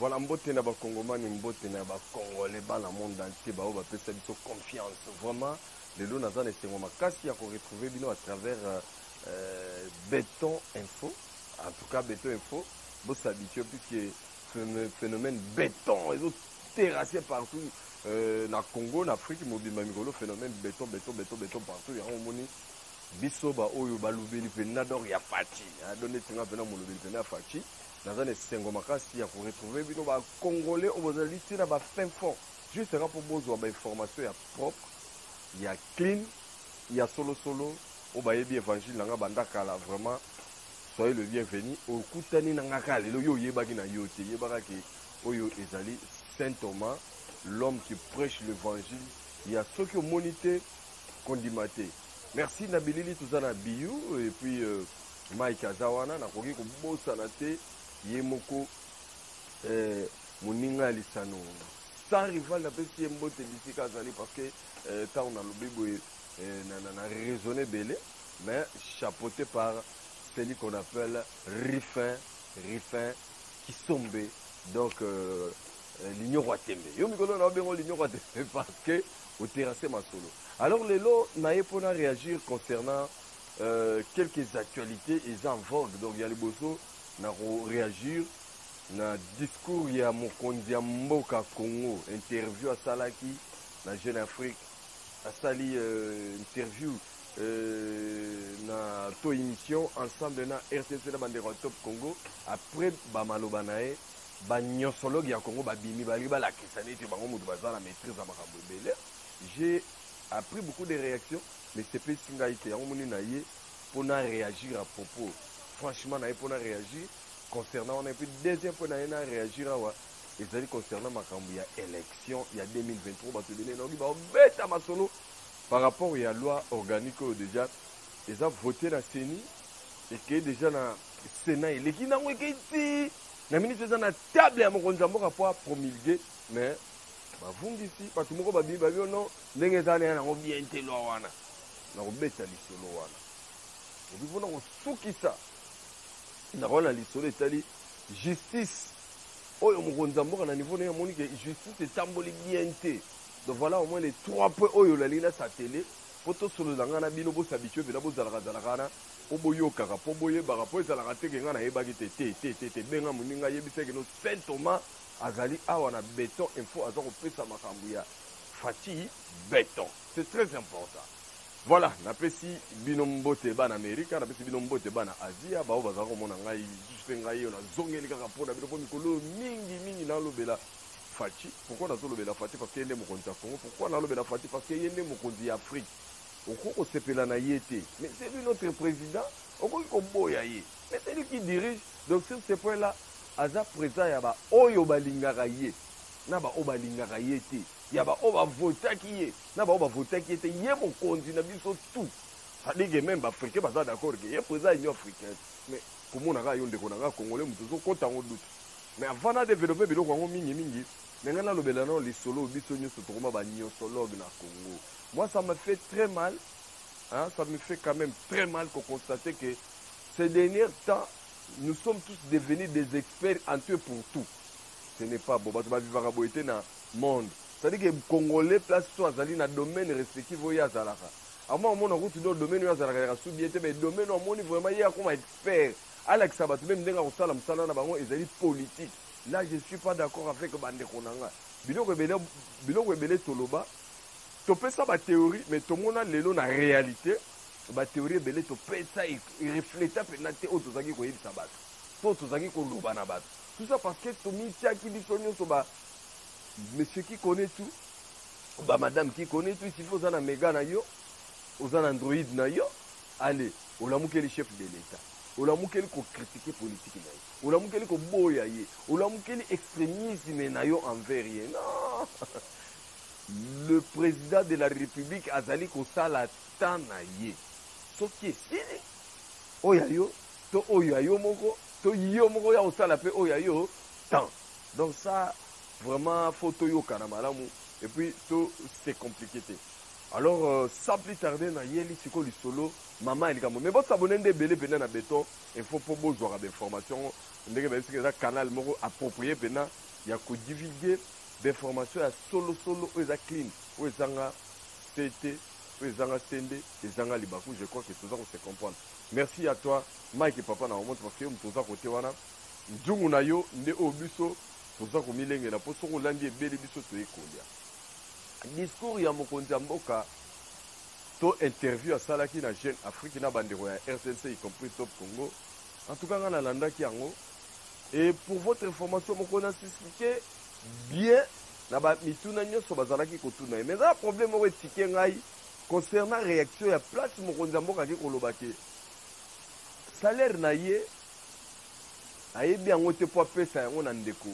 Voilà mbote na ba congomani mbote na ba congolais bana monde entier ba oyo ba pesa biso confiance vraiment lelo naza na esengo makasi ya ko retrouver bino à travers euh, euh beton info en tout cas beton info bo s'habituer puisque phénomène béton ezo terrasser partout euh, na Congo na Afrique mobimba mikolo phénomène béton béton béton béton partout yango omoni biso ba oyo balobeli mpenza donc ya faci adonne ntinga mpenza molobeli mpenza ya faci Naza na esengo makasi ya ko retrouver bino ba congolais oyo bozali ti na ba fin fond juste kaka mpo bozwa ba information ya propre ya clean ya solo solo oyo bayebi evangile na nga banda kala vraiment soyez le bienvenu okutani na nga kaka lelo yo oyebaki na yo te yebaka ke oyo ezali saint thomas l'homme qui prêche l'évangile ya soki omoni te kondima te merci na bilili toza na biyu et puis euh, Mike aza wana, nakoki kobosana te ye moko eh, moninga ya lisano sans rival napesi ye mbote bisika azali parce que eh, ntango nalobi boye eh, na, na, na raisonne ebele mais chapeauté par celui qu'on appelle Rifin, Rifin Kisombe, donc euh, euh l'Union Watembe. Yo mikolo na bengo l'Union Watembe parce que au terrassé ma solo. Alors lelo naye pona réagir concernant Euh, quelques actualites eza en vogue donc ya liboso na ko reagir na discours ya mokonzi ya mboka Congo, interview asalaki na Jeune Afrique, asali euh, interview euh, na to émission ensemble na RTC na bandeko ya Top Congo après ba maloba na ye banyosologue ya Congo babimi balingi balakisa neti bango moto baza na maîtrise ya makambo ebele j'ai a pris beaucoup de reaction mais esepelisi ngai te yango omoni na ye mpo na reagir à propos franchement na ye mpo na reagir concernant wana epuis deuxième mpo na ye na reagir awa ezali concernant makambo ya élection ya 2023 bato ebele nayoki babeta masolo par rapport ya loi organique oyo déjà eza vote na ceni ekei déjà na sénat eleki nango ekei ti na minute eza na table ya mokonzi ya mboka mpo apromulgue mais Bavungisi bato moko babimi babi yo no ndenge eza na ya nango bien te lwa wana na kobeta lisolo wana epi mpona kosukisa ndako wana na lisolo etali justice oyo mokonzi ya mboka na niveau naye amoni ke justice etamboli bien te donc voilà au moins les trois points oyo olaleli na satele mpo tosolola ngai na bino bosabitue mpena bozalaka zalaka wana mpo boyokaka mpo boyebaka mpo ezalaka te ke ngai nayebaki te te te te te benga moninga ayebisaki no saint thomas Azali awa na beton info aza kopesa makambu ya Fatshi beton c'est très important voilà napesi bino mbote bana America napesi bino mbote bana Asia baoyo bazala komona ngai lisusu pe ngai yo nazongeli kaka pona bino po mikolo oyo mingi mingi nalobela Fatshi pourquoi nazolobela Fatshi parce que ye nde mokonzi ya Congo pourquoi nalobela Fatshi parce que ye nde mokonzi ya Afrique okoki kosepela na ye te mais c'est lui notre président okoki koboya ye Mais celui qui dirige, donc sur ce point là, aza president ya ba oyo balingaka ye na ba oyo balingaka ye te, ya ba oyo ba votaki ye na ba oyo ba votaki ye te, ye mokonzi na biso tout. Ça dit que meme ba africains baza d'accord que ye president ya union africaine. Mais komona kaka yo ndeko na nga congolais moto ozo kota yango doute. Mais avant na developper biloko yango mingi mingi, mais nga nalobela nano lisolo oyo biso nioso tokoma ba niosologues na Congo. Moi ça me fait très mal Hein, ça me fait quand même très mal qu'on constate que ces derniers temps, nous sommes tous devenus des experts en tout et pour tout. Ce n'est pas bon. Bato bavivaka boye te na monde. C'est-à-dire que Congolais, place so azali na domaine respectif oyo azalaka. Ama omona kutu do domaine oyo azalaka ya subi ete mais domaine omoni vraiment ye akoma expert. Alakisa bato meme ndenge akosala mosala na bango ezali politique. Là, je ne suis pas d'accord avec bandeko na nga. Biloko ebele, biloko ebele toloba, Topesa ba theorie mais tomona lelo na realite ba theorie ebele topesa e refleta mpenza te oyo tozalaki koyebisa batu to oyo tozalaki koloba na batu tout ça parce que tomitiaki biso nionso ba monsieur qui connait tout ba madame qui connait tout il suffit oza na mega na yo oza na android na yo ale olamukeli chef de l'etat olamukeli kokritike politiki na ye olamukeli koboya ye olamukeli extremisme na yo envers ye non Le president de la republique azali kosala temps na ye soki esili oyo ya yo to oyo ya yo moko to yo moko oya kosala pe oyo ya yo temps donc ça vraiment faut toyokana malamu et puis to se complique te alors euh, sans plus tarder na yeli siko lisolo mama ya likambo mais bosabone nde ebele mpenza na beton info mpo bozwaka bainformation ndenge bayebisika eza canal moko approprié mpenza ya kodivulgue d'information ya solo solo oyo eza clean oyo ezanga sete oyo ezanga sende ezanga libaku je crois que toza ko se comprendre merci à toi Mike papa na Omont parce que yo moto oza kote wana nzungu na yo nde oyo biso toza komilengela mpo soki olandi ebeli biso toye kolia discours ya mokonzi ya mboka to interview asalaki na jeune afrique na bandeko ya rtnc y compris top congo en tout cas ngai nalandaki yango Et pour votre information moko na s'expliquer bien na ba mituna nyonso bazalaki kotuna ye mais eza na problème moko etike ngai concernant réaction ya place mokonzi ya mboka ake koloba ke salaire na ye ayebi yango te mpo apesa yango na ndeko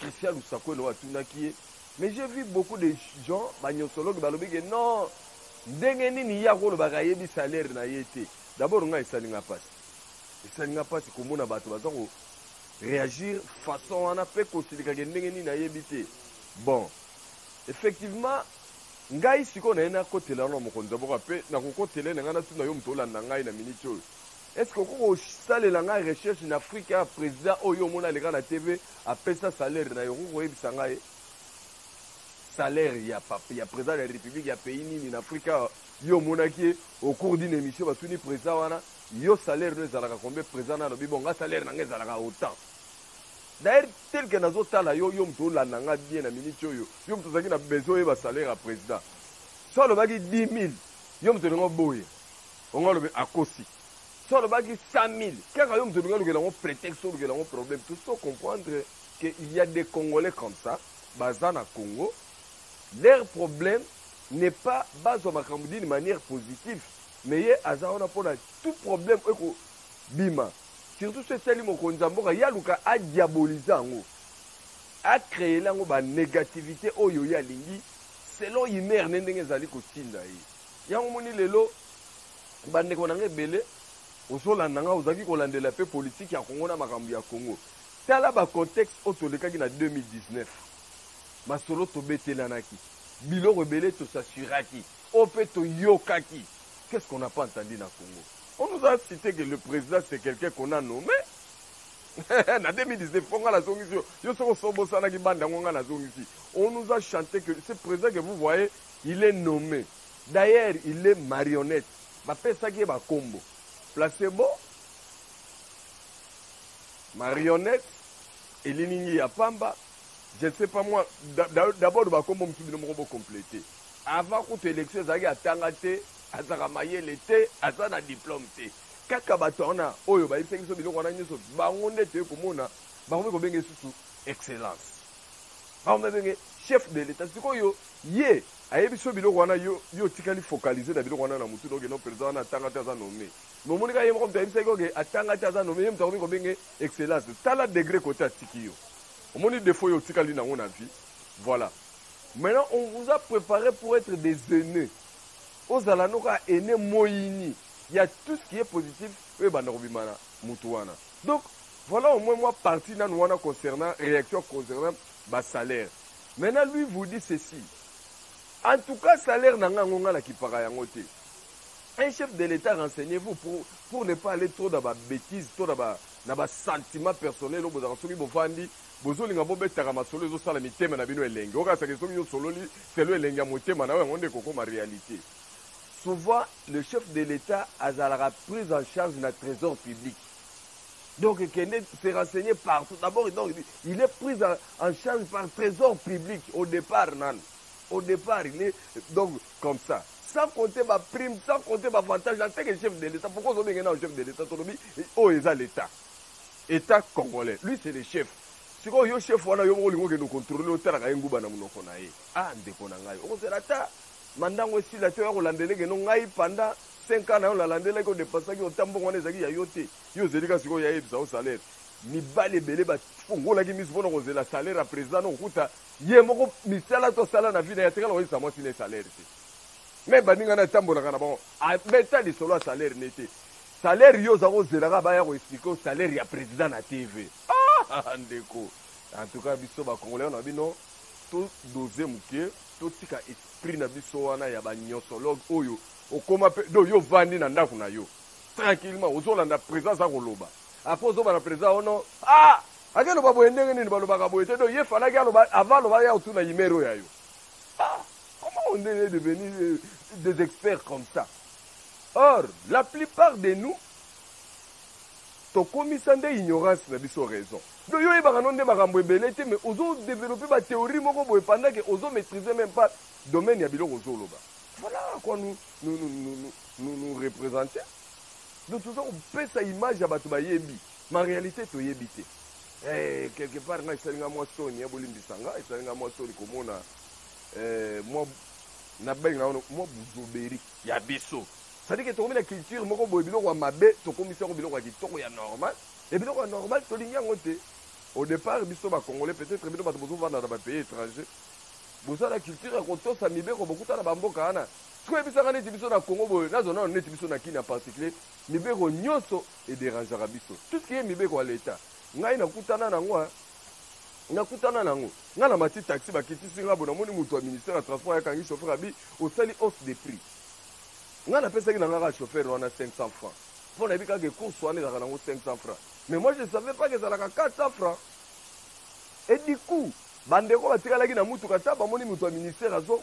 christian lusakwele oyo atunaki ye mais j'ai vu beaucoup de gens banyonsologe balobi ke non ndenge nini ye akolobaka ayebi salaire na ye te dabord ngai esali ngai mpasi esali nga mpasi komona bato baza ko reagir façon wana mpe kosilikake ndenge nini nayebi te bon effectivement ngai sikoyo naye nakotela wana mokonzi ya boka mpe nakokotela na ngai natuna yo moto olanda ngai na miniti oyo estce okoki kosalela ngai recherche na afrika ya président oyo omoni aleka na tv apesa salaire na yo okoki koyebisa ngai salaire ya, ya président ya république ya pays nini na afrika Yo omonaki ye au cours d'une emission batuni president wana yo salaire no ezalaka combien president na alobi bon nga salaire na nga ezalaka autant d'ailleurs tel que nazotala yo yo moto olanda nga bien na minute oyo yo moto ozalaki na besoin oyeba salaire ya president so alobaki 10 000 yo moto olinga oboye ongo alobi akosi so alobaki 100 000 kaka yo moto olinga olukela yango prétexte olukela yango problème tosi to comprendre que il y a des congolais comme ça baza na congo Leur problème n'est pas bazwa makambo d'une manière positif mais ye aza wana pona tout problème oyo eko bima surtout soki etali mokonzi ya mboka ye aluka a diaboliser yango a creele yango ba negativite oyo ye alingi selon humeur ne ndenge ezali kotinda ye yango omoni lelo ba ndeko na nga ebele ozo landa nga ozalaki kolandela pe politique ya Congo na makambo ya Congo tala ba contexte oyo tolekaki na 2019 Masolo Tobetelanaki biloko ebele To s'assuraki oyo pe toyokaki Qu'est ce qu'on n'a pas entendu na Congo? On nous a cite que le president c'est quelqu'un qu'on a nomme na 2019 po nga nazongisi yo yo soki osi obosanaki banda yango nga nazongisi On nous a chante que ce president que vous voyez il est nomme D'ailleurs il est marionnette bapesaki ye bakombo Placebo Marionnette elilingi ya pamba Je ne sais pas moi d'abord ba kombo mususu bino moko bo completer avant kutu election ezalaki atanga te azalaka mayele te aza na diplome te kaka bato wana oyo bayebisaki biso biloko wana nyonso bango nde toye komona bakomi kobenga esusu excellence bakomi babenge chef de l'etat sikoyo ye ayebi so biloko wana yo yo otikali focaliser na biloko wana na motu noke no président wana atanga te aza nommé mais omoni kaka ye moko moto ayebisaki oke atanga te aza nommé ye moto akomi kobenge excellence tala degré kote atiki yo omoni defaut yo otikali nango na vie voila maintenant on vous a prepare pour etre des aines ozala no kaka aine moyini ya tout ce qui est positif oyo ebanda kobima na mutu wana donc voilà au moins moi parti nanu wana concernant réaction concernant ba salaire maintenant lui vous dit ceci en tout cas salaire na nga yango nga na kipaka yango te un chef de l'état renseignez vous pour, pour ne pas aller trop dans ba bêtise to na ba na ba sentiments personnels oyo bozalaka soki bovandi bozolinga bobetaka masolo ezosala mitema na bino elengi okakisa ke soki osololi selon elengi ya motema na yo yango nde ekokoma realite souvent le chef de l'etat azalaka prise en charge na trésor public donc kende se renseigner partout d'abord donc il est prise en, en charge par trésor public au départ nanu au départ il est donc comme ça sans compter ba prime sans compter ba avantage en tant que chef de l'etat pourquoi ozo benge na chef de l'etat tolobi oyo oh, eza l'etat etat congolais lui c'est le chef sikoyo yo chef wana yo moko olingi okende okontrole otalaka ye nguba na monoko na ye ah ndeko na ngai okozela ata mandango esila te oya kolandela ekeno ngai panda 5 ans na yo nalandelaki odepasaki ota mbongo wana ezalaki ya yo te yo ozeli ka sikoyo yayebisa yo salaire mibali ebele bafongolaki miso mpona kozela salaire ya président na kokuta Ye moko misala to sala na vie na ye atikala koyebisa mwasi na ye salaire te. Meme baninga na ye atambolaka na bango abeta lisolo ya salaire ne te. Salaire yo oza kozela kaka baya ko explique yo salaire ya president na TV. Aah ndeko. En tout cas biso ba congolais na bino to doser mukie to tika esprit na biso wana ya ba nyosologue oyo okoma pe do yo vandi na ndaku na yo tranquillement ozo landa president aza koloba après ozo bana president ono ah Ake loba boye ndenge nini balobaka boye te donc ye falaki aloba avant aloba ya otuna yimere oyo ya yo ah comment on est devenu euh, des experts comme ça or la plupart de nous tokomisa nde ignorance na biso raison donc yo oyebaka no nde makambo ebele te mais ozo développer ba théorie moko boye pendant que ozo maîtriser même pas domaine ya biloko ozoloba voilà à quoi nous nous nous nous nous, nous, nous représenter donc toza kopesa image ya bato bayebi Ma realite toyebi te. Eh quelque part nga esali nga mwa soni ya bolimbisa nga esali nga mwa soni komona eh mwa na benga ono mwa buzoberi ya biso. C'est-à-dire que tokomi na culture moko boye biloko ya mabe tokomisi yango biloko ya kitoko ya normal et biloko ya normal tolingi yango te. Au départ biso ba congolais peut-être bino bato bozovanda na ba pays étrangers boza na culture ya kotosa mibeko bokuta na ba mboka wana soki oyebisaka neti biso na Congo boye nazo nano neti biso na Kin en particulier mibeko nyonso e derangeaka biso tout ce qui est mibeko ya l'etat ngai nakutana nango hein nakutana nango ngai na mati taxi bakitisi ngai bo namoni moto ya ministère ya transport ayakangi chauffeur abi osali hausse de prix ngai napesaki na ngai kaka chauffeur wana 500 francs mpo nayebi kaka ke course wana ezalaka nango 500 francs mais moi je ne savais pas ke ezalaka 400 francs et du coup bandeko batikalaki na mutuka ta bamoni moto ya ministère azo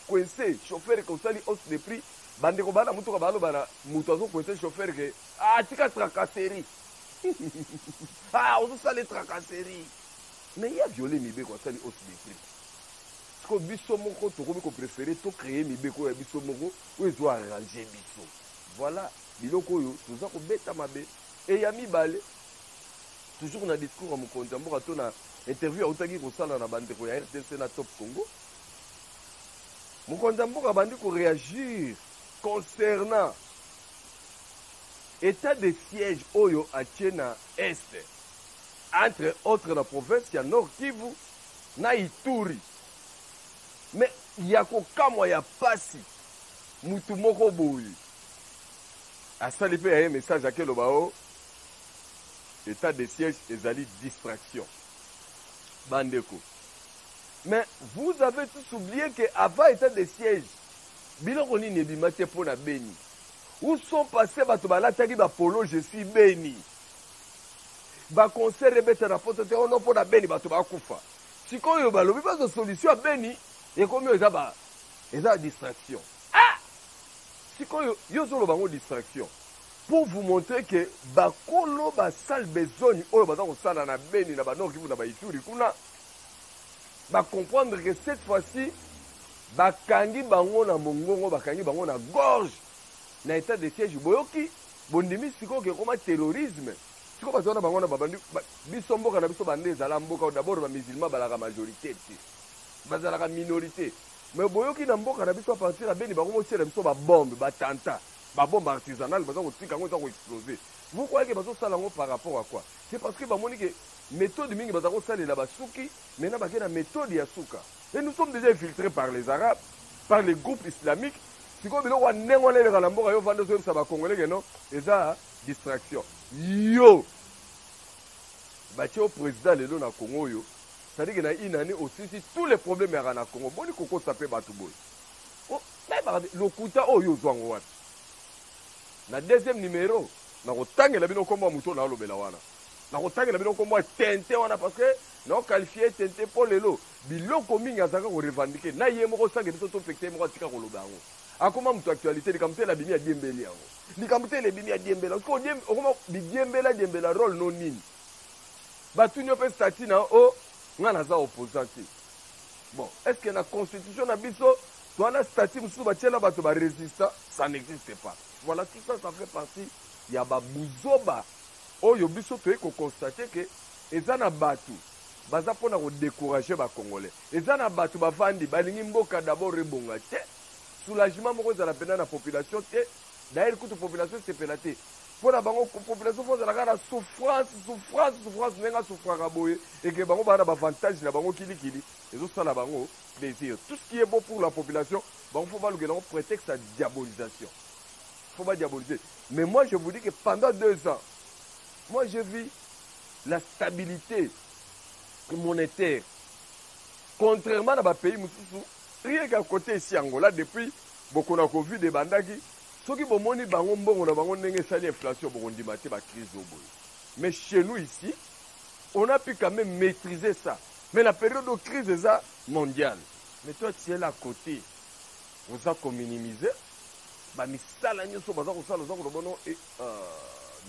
koinse chauffeur kosali hausse de prix Bandeko bana mutuka baloba na mutu azo kwese chauffeur ke ah tika tracasserie ah ozo sale tracasserie mais ye aviole mibeko asali hausse de prix sikoyo biso moko tokomi koprefere to kreye mibeko oyo ya biso moko oyo ezo arrange biso voilà biloko oyo toza kobeta mabe e ya mibale toujours na discours ya mokonzi ya mboka to na interview autaki kosala na bandeko ya rdc na top congo Mokonzi ya mboka abandi ko reagir concernant etat de siège oyo atie na Est, entre autres na province ya Nord-Kivu na Ituri. Mais ya kokamwa, ya pasi, mutu moko boye asali pe ya ye message ake loba oh etat de siège ezali distraction. Ba ndeko. Mais vous avez tous oublie que avant etat de siège biloko nini ebima te mpo na beni où sont passe bato balataki ba polo je suis beni ba concert ebeta na poto te ono oh mpo na beni bato bakufa sikoyo balobi bazo solution ya beni ekomi oyo eza ba eza distraction ah sikoyo yo ozoloba yango distraction pour vous montrer que bakolo basale besogne oyo baza kosala na beni na banor kivu na baituri kuna Ba comprendre que cette fois ci ba kangi bango na mongongo, ba kangi bango na gorge na etat de siège. Boyoki? Bondimi sikoyo ke ekoma terrorisme? Sikoyo bato wana bango na babandi ba, biso mboka na biso banda ezala mboka d'abord ba musulmans balaka majorite te. Bazalaka minorite. Mais boyoki na mboka na biso a partir ya Beni bakomi otiela biso ba bombe, ba tanta, ba bombe artisanale baza kotika yango eza ko exploser. Vous croyez que bazo sala yango par rapport à quoi? C'est parce que bamoni que methode mingi baza kosalela basuki maintenant bake na methode ya suka et nous sommes déjà infiltrés par les arabes par les groupes islamiques sikoyo biloko ya ndenge wana eleka na mboka yo vanda ozoyebisa bacongolais ke non eza distraction yo batie yo président lelo na congo oyo sadike na une année osilisi tous les problèmes yaka na congo boni kokosa mpe bato boye lokuta oyo ozwango wapi Na deuxième numero nako tangela bino kombo ya mutu oyo nazo lobela wana. Nako tangela bino kombo ya Tintin wana parce que nao qualifier ye Tintin po lelo biloko mingi azalaka ko revendiquer na ye moko sans que biso to pekisa ye moko atika ko loba yango. Akoma mutu actualite likambo tele abimi a diembeli yango. Likambo tele ebimi a diembela yango. Sikoyo odiemb okoma bi diembela diembela role n'o nini? Ba tuni yo pe statut na yo oh nga naza opposant te. Bon est ce que na constitution na biso Wana statut mususu batiela batu ba resistant ça n'existe pas voilà tout ça ça fait partie ya ba buzoba oyo biso toye ko constate que eza na batu baza pona ko decourager ba congolais eza na batu bavandi balingi mboka d'abord ebonga te soulagement moko ezala pena na population te d'ailleurs kutu population esepela te mpo na bango population fo ozalaka na souffrance souffrance souffrance ndenge asouffraka boye eke bango baa na bavantage na bango kilikili ezosala bango desir tout ce qui est bon pour la population bango faut balukela yango prétexte ya diabolisation faut ba diaboliser mais moi je vous dis que pendant deux ans moi je vis la stabilité monétaire contrairement na bapays mosusu rien qu'à côté esi angola depuis bokona covid ebandaki soki bomoni bango mbongo na bango ndenge esali inflation bokondima te bacrise oyo boye mais chez nous ici on a pu quand même maîtriser ça Mais la periode oyo crise eza mondial mais toi tu es là à cote oza ko minimiser ba misala nioso baza kosala oza koloba no e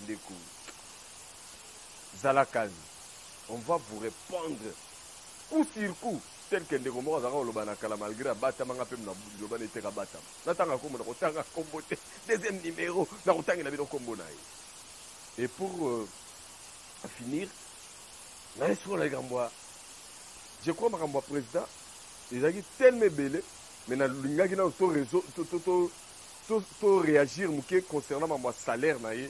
ndeko zala calme on va vous repondre coup sur coup tel que ndeko moko azalaka koloba na kala malgré abatama nga mpe na liloba na eteka abatama natanga nkombo na kotanga nkombo te deuxième numéro na kotangela bino nkombo na ye et pour euh, finir Naye sikoyo na likambo ya je crois makambo ya president ezalaki tellement ebele mais na lingaki nanu to reseau to to to to to reagir muke concernant mambo ya salaire na ye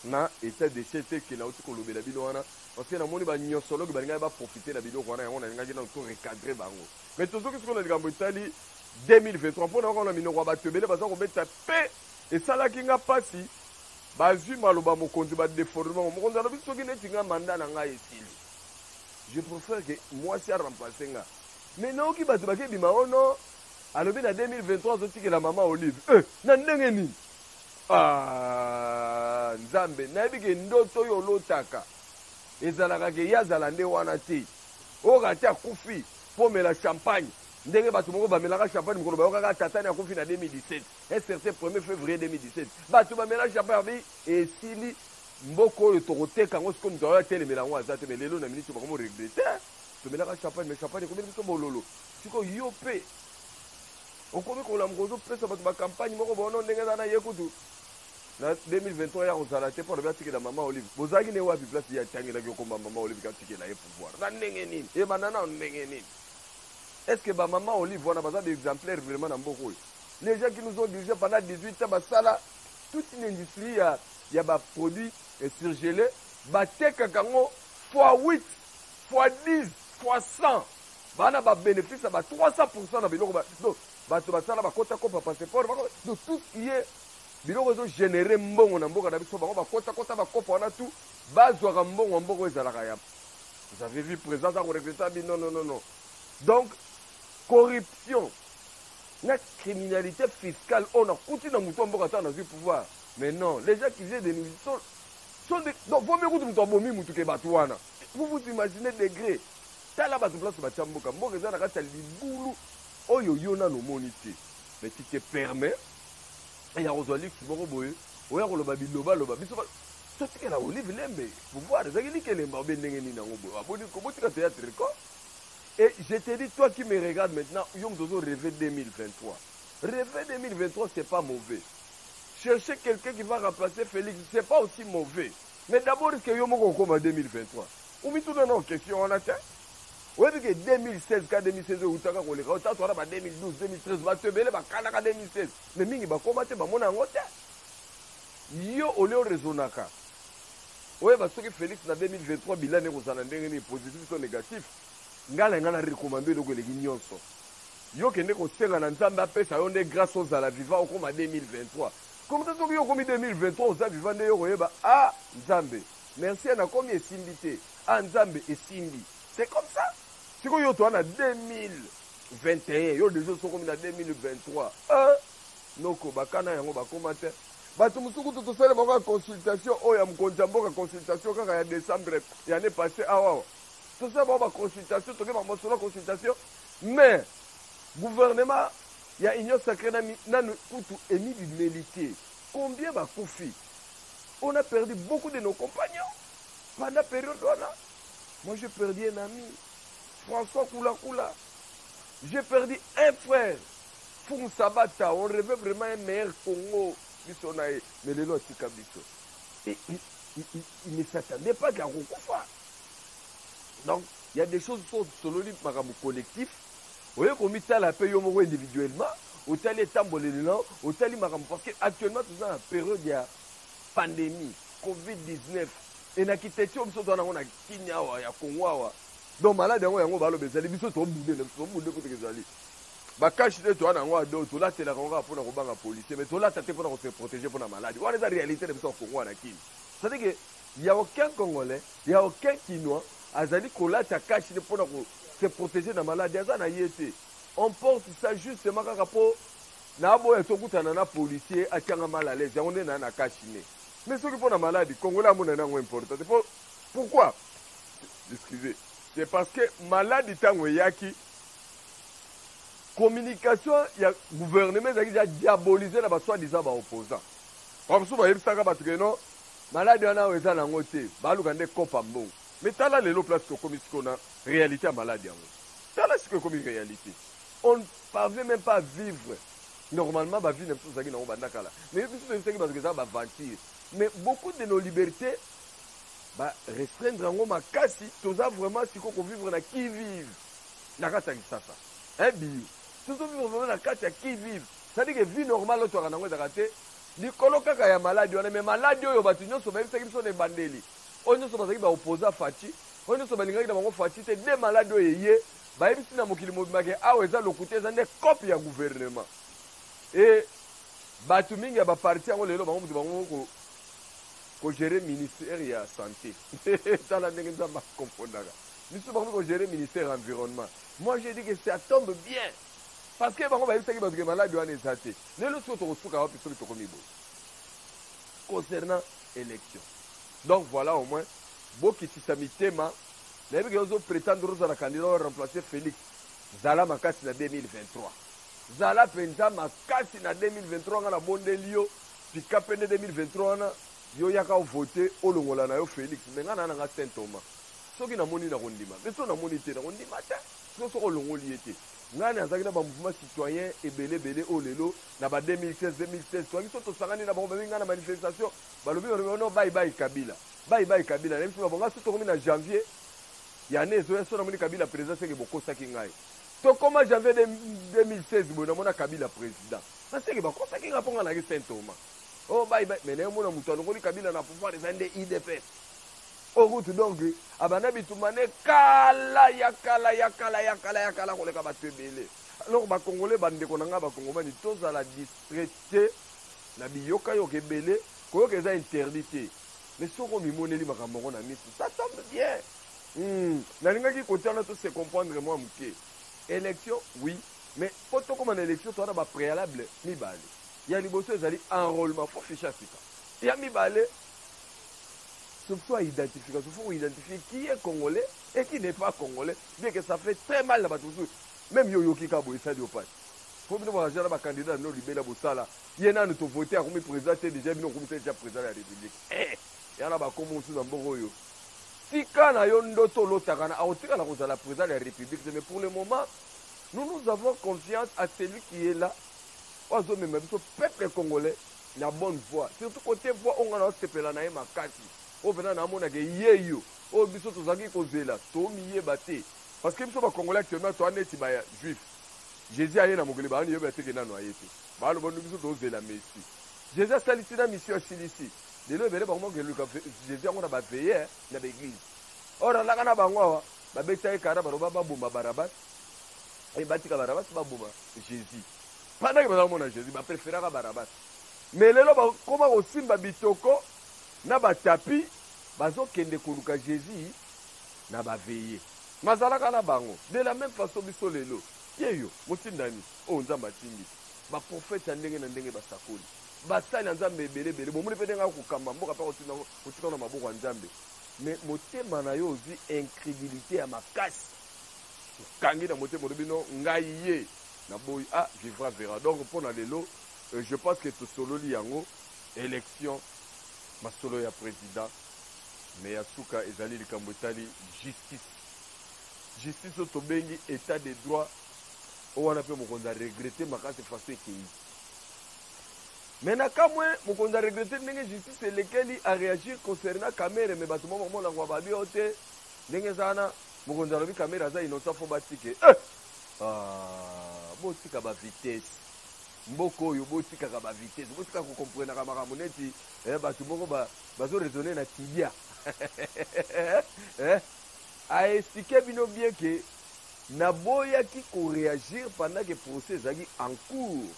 na etat de siège tel que nauti kolobela bino wana parce que namoni ba niosologue balingaki ba profiter na biloko wana yango nalingaki nanu to recadrer bango mais tozoki sikoyo na likambo etali 2023 mpo na yokana minoko ya bato ebele baza kobeta mpe esalaki nga mpasi Bazui maloba mokonzi ba deformer yango. Mokonzi alobi soki neti nga mandat na ngai esili je prefere que muasi a remplacer nga. Mais nayoki batu bake bima oh non alobi na 2023 azo tikela mama olive euh na ndenge nini? Aah nzambe nayebi ke ndoto oyo olotaka ezalaka ke ye azala nde wana te o rate akufi po omela champagne ndenge batu moko bamelaka champagne mokolo bayokaka tatane akufi na 2017. Un certain premier fevrier 2017 bato ba melage ya barbe esili mboka oyo tokoteka yango sikoyo moto ayo atelemela yango aza te me lelo na miniti bakomi regrete tomelaka champagne me champagne ekomeli biso bololo sikoyo yo mpe okomi kolamuka ozopesa bato bakampagne moko bono ndenge eza na ye kutu na 2023 ya kozala te mpo alobi atikela mama olive bozalaki ne wapi place ye atangelaki okoma mama olive katikela ye pouvoir na ndenge nini ebanda nao ndenge nini est ce que bamama olive wana baza baexemplaire vraiment na mboka oyo les gens qui nous ont dirigé pendant 18 ans basala toute une industrie ya, ya ba produits eh, surgelés batekaka yango fois 8 fois 10 fois 100 bana ba bénéfice ba 300% na biloko ba donc bato basala bakota kopa passeport donc tout ce qui est biloko ezo généré mbongo na mboka na biso bango bakota kota bakopa wana tout bazwaka mbongo ya mboka ezalaka ya vous avez vu présence akoregreta bi non non non non donc corruption na criminalite fiscale oyo na kuti na mutu ya mboka tango nazui pouvoir mais non les gens qui faisaient des musiques sont, sont des, donc vaut mieux kutu mutu abomi mutu ke batu wana vous vous imaginez degré tala batu place batia mboka mboka eza na kati ya libulu oyo yo nano omoni te mais tu te permets ya kozwa luxe moko boye oya koloba bilobaloba biso totikela olive lembe pouvoir ezalaki likelemba obe ndenge nini yango boye abotika théâtre ko Et je te dis toi qui me regarde maintenant yo mutu ozo reve 2023 reve 2023 c'est pas mauvais chercher quelqu'un qui va remplacer Felix c'est pas aussi mauvais mais d'abord est-ce que yo moko okoma 2023 omituna nao question wana te oyebi ke 2016 ka 2016 oyo eutaka koleka otatu wana ba 2012 2013 bato ebele bakanaka 2016 me mingi bakoma te bamona yango te yo olio resonaka Oyeba soki Felix na 2023 bilan naye ekozala ndenge nini positif to negatif? Nga na linga na recommande yo eloko eleki nionso yo kende kosenga na Nzambe apesa yo nde grace ozala vivant okoma 2023 comme ça soki yo okomi 2023 oza vivant nde yo okoyeba ah Nzambe merci na komi esimbi te ah Nzambe esimbi c'est comme ça siko yo toa na 2021 yo deja osokomi na 2023 ah noko bakana yango bakoma te Batu mosusu kutu tosali bango kaka consultation oyo ya mokonzi ya mboka consultation kaka ya decembre ya annee passe awa awa tosala bango ba consultation toke ba masolo ya consultation mais gouvernement ya union sacrée na nanu kutu emibimeli te combien bakufi on a perdu beaucoup de nos compagnons pendant période wana moi j'ai perdu un ami François Kula Kula j'ai perdu un frère Fung sabata on reve vraiment un meilleur Congo biso na ye mais lelo atika biso. Il ne s'attendait pas que akokufa donc il y a des choses so sololi makambo collectif oye komitala pe yo moko individuellement otali etamboleli na otali makambo parce que actuellement toza na periode ya pandémie covid 19 e na kiteti oyo biso toza nango na kini awa ya kongo awa donc malade yango yango baloba ezali biso tobunde na biso tobunde kutu ezali Ba cache nez toza na yango ado tolatelaka yango kaka mpo na kobanga policier mais tolata te mpo na kose proteger mpo na maladi wana eza realite na biso ya kongo na kini cetadi ke ya aucun congolais ya aucun kinois azali kolata cache nez mpo na kose proteger na maladi aza na ye te on porte ça justement kaka mpo naboya tokutana na policier atianga mal à l'aise yango nde naa na cache nez mais soki mpo na maladi congolais amonani yango important te mpo pourquoi excusez c'est parce que maladi ntango eyaki Communication ya gouvernement ezalaki dejà diabolisee na ba soit disant ba opposants. Ba mosusu bayebisaka bato que non, malade wana awa eza na yango te, baluka nde coop ya mbongo. Mais tala lelo place tokomi sikoyo na realite ya malade yango. Tala sikoyo ekomi realite. On ne parvient meme pas à vivre normalement ba vie na biso tozalaki na yango banda kala. Mais biso toyebisaki bato que eza ba aventure. Mais beaucoup de nos libertes ba restreindre yango makasi, toza vraiment sikoyo ko vivre na qui vive. na kati ya kisasa eh biyo tozo vivre vraiment na kati ya qui vive c'est à dire que vie normale oyo toyaka nango ezaka te likolo kaka ya maladi wana mais maladi oyo bato nyonso bayebisaki biso na ebandeli oyo nyonso bazalaki ba opposa faci oyo nyonso balingaki na bango faci te de maladi oyo eye bayebisi na mokili mobimba ke awa eza lokuta eza nde cope ya gouvernement e bato mingi ya baparti yango lelo bango moto bango kogere ministère ya santé tala ndenge nzambe akompondaka Misusu bakomi ko gerer ministère ya environnement. Moi j'ai dit que ça tombe bien parce que bango bayebisaki batu ke malade wana eza te. Lelo sikoyo tokosuka wapi soki tokomi boye? Concernant election. Donc voilà au moins bokitisa mitema nayebi ke ozo pretendre ozala candidat o remplacer Felix. Zala makasi na 2023. Zala penza makasi na 2023 nga nabondeli yo tika pende 2023 wana yo yaka ovote olongola na yo Felix me nga na na nga Saint Thomas. Soki namoni, nakondima mpe soki namoni te, nakondima te sikoyo soki olongoli ye te. Ngai nazalaki na ba mouvements citoyens ebele ebele oyo lelo na ba 2016, 2016 tozalaki soki tosangani na bango babengi ngai na manifestation balobi balobi oh non bayi bayi Kabila bayi bayi Kabila nayebisi bango ngai soki tokomi na janvier ya année ezoya soki namoni Kabila president seke bokosaki ngai tokoma janvier 2016 boye namona Kabila president naseke bakosaki ngai mpo ngai nayaki Saint Thomas oh bayi bayi mais naye omona moto alongoli Kabila na pouvoir eza nde IDPS Oyo kutu donc abanda bitumba ne kala ya kala ya kala ya kala ya kala koleka batu ebele. Alors ba congolais ba ndeko na nga ba congomani tozala distrait te na biyoka yoka ebele koyoka eza interdit te mais soki omimoneli makambo yango na misu ça tombe bien hmm. nalingaki kotia wana to se comprendre mwa moke élection oui mais mpo tokóma na élection toza na bapréalable mibale ya liboso ezali enrôlement fo fiche ya sika ya mibale Surtout a identification faut ko identifier qui est congolais et qui n'est pas congolais bien que ça fait très mal na bato mosusu meme yo oyoki kaka boye esali yo mpasi mpo bino bakaza na bakandidat no libela bosala ye nanu tovote akomi président te déjà bino okomi deja président ya république eh, ya na bakombo mosusu na mboka oyo tika na yo ndoto olotaka na akotikala kozala président ya république te mais pour le moment nous nous avons confiance à celui qui est là oyo azomema biso peuple congolais na bonne voix surtout cote voix onga na sepela na ye makasi oyo pena na mona ke ye yo oyo biso tozaki kozela to miyeba te parce que biso ba congolais actuellement to aneti ba juif Jésus aye na mokili ba ani yeba te ke nanu aye te ba lobo ndu biso tozela messi Jésus asalisi na mission asilisi lelo ebele bango ke luka Jésus yango na ba veille na ba église or alaka na bango awa ba beta ye kara ba loba ba boma barabas et batika barabas ba boma Jésus Pendant que baza komona Jesus ba preferaka Barabas mais lelo ba koma kosimba bitoko na ba tapis bazo kende koluka Jesus na ba veillee. Mazalaka na bango de la meme façon biso lelo te yo motindami oyo Nzambe atindi ba prophètes ya ndenge na ndenge ba sakoli ba sali ya Nzambe ebele ebele bomoni pe ndenge ako kamba mboka pe ako tinda ngo ko tika ngo na maboko ya Nzambe mais motema na yo ozui incredulite ya makasi. okangi na motema olobi non ngai ye na boyi a vivra verra donc pona lelo je pense que tosololi yango election masolo ya president mais ya suka ezali likambo etali justice justice oyo tobengi etat de droit oyo wana mpe mokonzi a regrete makasi faso ekei mais na kamwe mokonzi a regrete ndenge justice elekeli a reagir concernant kamere mais bato mwa bamonango bababi oyo te ndenge eza wana Mokonzi alobi kamere aza innocent faut batike eh! ah, botika ba vitesse mboka oyo botikaka ba vitesse botika kokomprenaka makambo neti eh, bato moko bazoraisonne ba na tibia eh? aexplike bino bien ke naboyaki koreagir pendant ke procès ezalaki en cours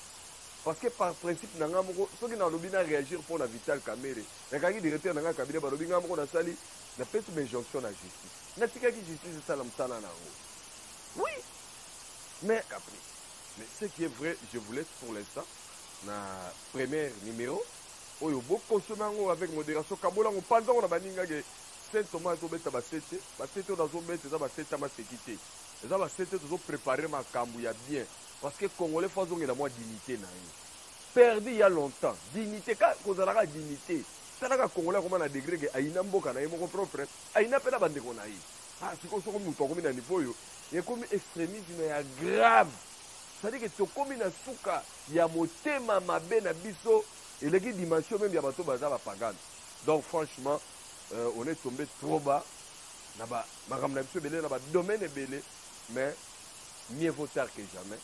parce que par principe na ngai moko soki nalobi na réagir mpo na vital kamere nakaki directeur na ngai kabine balobi ngai moko nasali napesi bainjonction na justice Natikaki justice esala musala na yango oui mais caprice. Mais ce qui est vrai, je vous laisse pour l'instant na première numero oyo bo consommer yango avec modération kabola ngo panza ngo na baninga ke Saint Thomas to beta ba sete ba sete na zo beta eza ba sete ma sekite eza ba sete to zo préparer makambu ya bien parce que congolais faut azongela mwa dignité na ye perdu il y a longtemps dignité ka kozalaka dignité talaka congolais akoma na degré ke ayina mboka na ye moko propre Aina pe na ba ndeko na ye. Ah sikoyo soko mutu akomi na niveau oyo ekomi extremisme ya grave c'est à dire que tokomi na suka ya motema mabe na biso eleki dimension meme ya bato baza ba pagan donc franchement euh, on est tombé trop bas na ba makambo na biso ebele na ba domaine ebele mais mieux vaut tard que jamais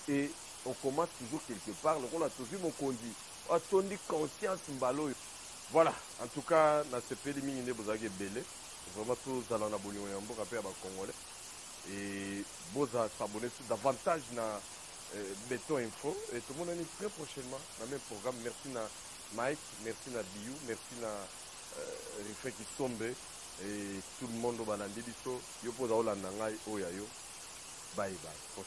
et on commence toujours quelque part lokola tozwi mokonzi atondi conscience mbala oyo Voilà en tout cas nasepeli mingi nde bozalaki ebele vraiment tozala na bolingo ya mboka mpe ya ba congolais et boza s'abonner sur davantage na euh, beton info et tomonani très prochainement na même programme merci na mike merci na biu merci na euh, refrain kisombe et tout le monde oyo balandi biso yo mpo oza olanda ngai oyo ya yo bye bye prochain